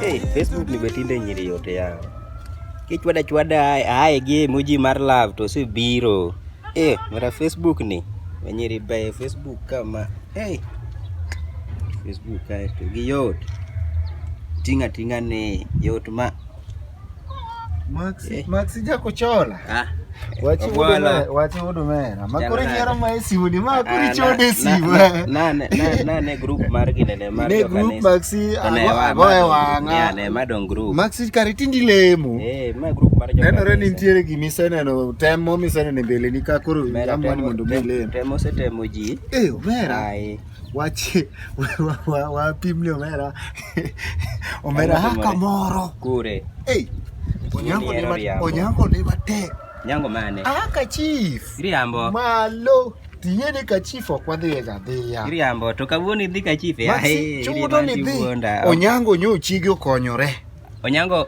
Hey, Facebook limetinde nyiri yote yao kichwada chwada aye gi emoji mar love to si biro eh, mara Facebook ni wenyiri baye Facebook kama hey. Facebook kae to gi yot tinga tinga ni yot ma Maxi, eh. Maxi jakuchola. Ah. Wachi udume, wachi udume. Makuri nyero ma esiudi, makuri ah, chode sibu. Na na na ne group mar ginene mar Ne group Maxi agoe wanga. Ne ma don group. Maxi kare tindi lemo. Eh, ma group mar joma. Nenore ni nitiere gimi seneno, temo mi seneno mbele ni ka koro amwani mondo mi lemo. Temo se temo ji. Eh, omera. Ai. Wachi wapi mli omera omera haka moro kure. Hey, onyango ni ma onyango ni ma te. Nyango mane? Ah, ka chief. Riambo. Malo. Tiye ni ka chief ok wadhi ga dhiya. Riambo to kawuono idhi ka chief. Ai, chudo ni dhi. Onyango nyo chigi okonyore. Onyango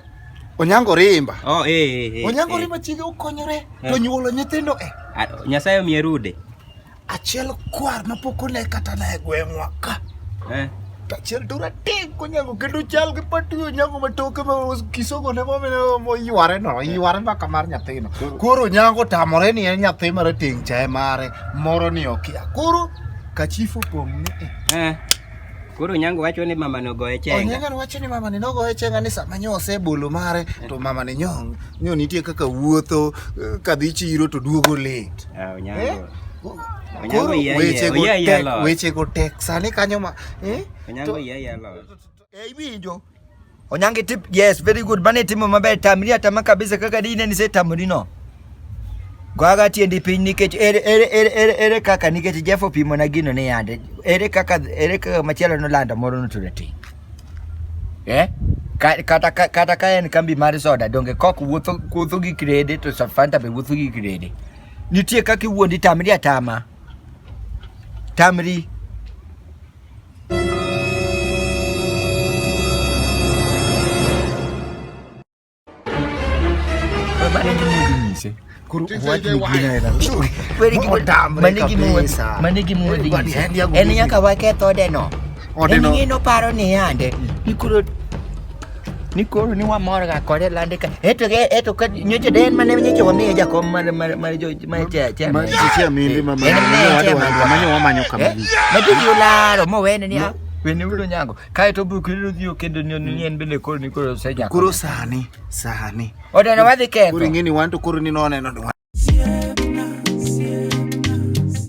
Onyango rimba. Oh, eh, eh, eh. Onyango eh. rimba chige okonyore eh. to nyuolo nyithindo eh. Nyasaye omiye rude. Achiel kwar ma pok one kata na e gweng'wa ka. Eh. To achiel to ratego nyago kendo chal gi patuyo nyago ma toke ma kisogo ne momene moyware no, yware mbaka mar nyathino. Koro nyago tamore ni en nyathi mar ting' chae mare moro ni okia. Koro kachifu pong' ni eh. Eh. Koro nyango wacho ni mama no goye chenga. Onyango wacho ni mama ni no goye chenga ni sama nyo osebolo mare to mama ni nyong. Nyo nitie kaka wuotho eh, kadhi chiro to duogo late. wechego tek sani kanyo ma eh? iwinjo Onyange tip yes very good bane timo maber tamri atama kabisa kaka dine ni se tamri no Gwaga tiendi piny nikech ere ere ere ere ere kaka nikech Jeff opimo na gino ni yande ere kaka ere kaka machielo nolanda moro no to eh? kata kata ka en kambi mar soda donge kok wuotho wuotho gi krede to Fanta be wuotho gi krede nitie kaka iwuondi tamri atama tamri en nyaka waketh odeno en ng'ino paro ni yande ikuro ni koro ni wamor ga kode lande ka eto ke eto ka nyoche den mane nyoche wamiye jakom mar mar mar jo mar che che mar che che mindi ma ma ma nyo wamanyo kama ni ma tu yularo mo wene ni wene ulo nyango Kae to buk riro dhi okedo ni ni en bende koro ni koro se jako. Koro sani, sani. Oda na wadhi ketho. Koro ingeni wan to koro ni noneno